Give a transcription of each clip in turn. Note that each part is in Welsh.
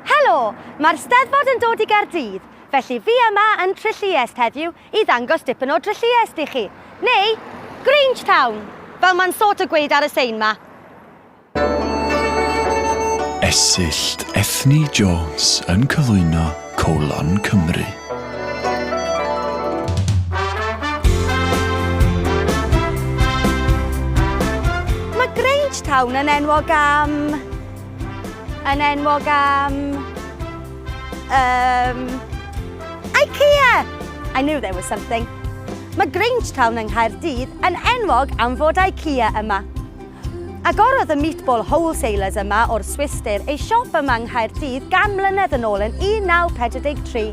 Helo! Mae'r Steddfod yn dod i Gaerdydd, felly fi yma yn Trylliest heddiw i ddangos dipyn o Drylliest i chi. Neu, Grange Town, fel mae'n sort o gweud ar y sein ma. Esyllt Ethni Jones yn cyflwyno colon Cymru. Mae Grangetown yn enwog am... yn enwog am... Um, IKEA! I knew there was something. Mae Grangetown yng Nghaerdydd yn enwog am fod IKEA yma. Agorodd y Meatball Wholesalers yma o'r Swistir ei siop yma yng Nghaerdydd gan mlynedd yn ôl yn 1943.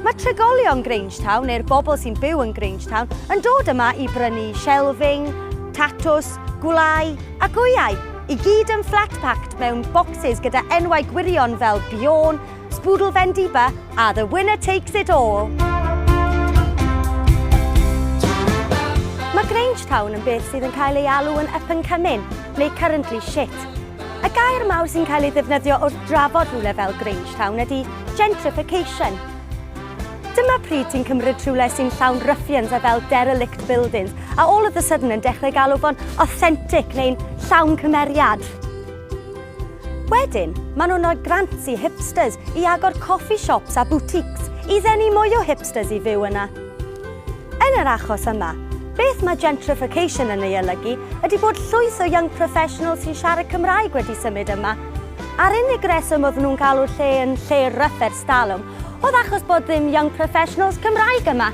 Mae trigolion Grangetown, neu'r bobl sy'n byw yn Grangetown, yn dod yma i brynu shelving, tatws, gwlâu a gwyau, i gyd yn flat-packed mewn bocsys gyda enwau gwirion fel Bjorn, Spoodle Bendiba a The Winner Takes It All. Mae Grange Town yn beth sydd yn cael ei alw yn up and coming, neu currently shit. Y gair mawr sy'n cael ei ddefnyddio wrth drafod rhywle fel Grange Town ydy gentrification. Dyma pryd ti'n cymryd rhywle sy'n llawn ruffians a fel derelict buildings, a all of the sudden yn dechrau galw fo'n authentic neu'n llawn cymeriad. Wedyn, maen nhw'n rhoi grants i hipsters i agor coffi shops a boutiques i ddenu mwy o hipsters i fyw yna. Yn yr achos yma, beth mae gentrification yn ei olygu ydy bod llwyth o young professionals sy'n siarad Cymraeg wedi symud yma, a'r unig reswm oedd nhw'n galw'r lle yn lle ryfedd Talwm. Oedd achos bod ddim young professionals Cymraeg yma.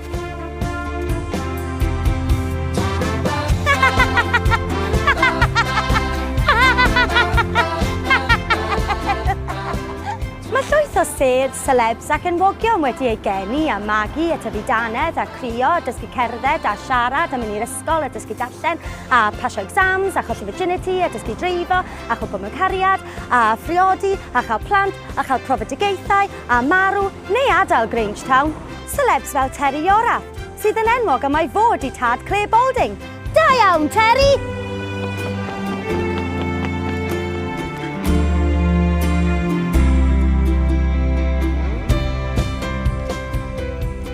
Mae llwyth o sêr, celebs ac enwogion wedi eu geni a magu a tyfu danedd a crio a dysgu cerdded a siarad a mynd i'r ysgol a dysgu darllen a pasio exams a cholli virginity a dysgu dreifo a chwmpo mewn cariad a phriodi a chael plant a chael profedigaethau a marw neu adael Grangetown. Celebs fel Terry Yorath, sydd yn enwog am ei fod i tad Clare Balding. Da iawn, Terry!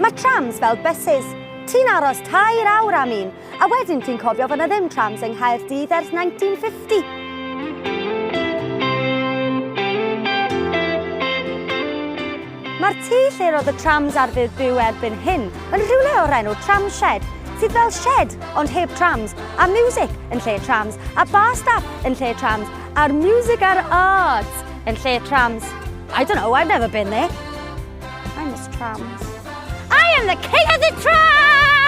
Mae trams fel bysus. Ti'n aros tair awr am un, a wedyn ti'n cofio fod 'na ddim trams yng Nghaerdydd ers 1950. Mae'r tŷ lle roedd y trams ar fydd byw erbyn hyn yn rhywle o'r enw Tramshed, sydd fel shed ond heb trams, a music yn lle trams, a bar staff yn lle trams, a'r music a'r arts yn lle trams. I don't know, I've never been there. I'm Miss Trams. I am the king of the trams!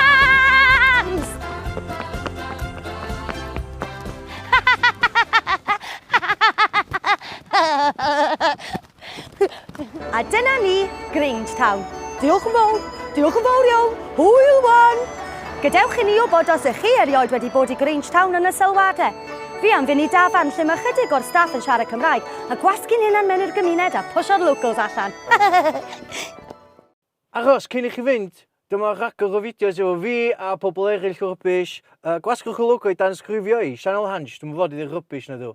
A dyna ni, Grange Town. Diolch yn fawr, diolch yn fawr iawn, hwyl wan! Gadewch i ni wybod os ych chi erioed wedi bod i Grange Town yn y sylwadau. Fi am fynd i dafarn lle mae chydig o'r staff yn siarad Cymraeg a gwasgu'n hunan mewn i'r gymuned a pwsio'r locals allan. Achos, cyn i chi fynd, dyma rhagor o fideos efo fi a pobl eraill rubbish. Gwasgwch y logo i danysgrifio i, Sianel Hansh, dwi'm yn fod i ddeud rubbish nadw?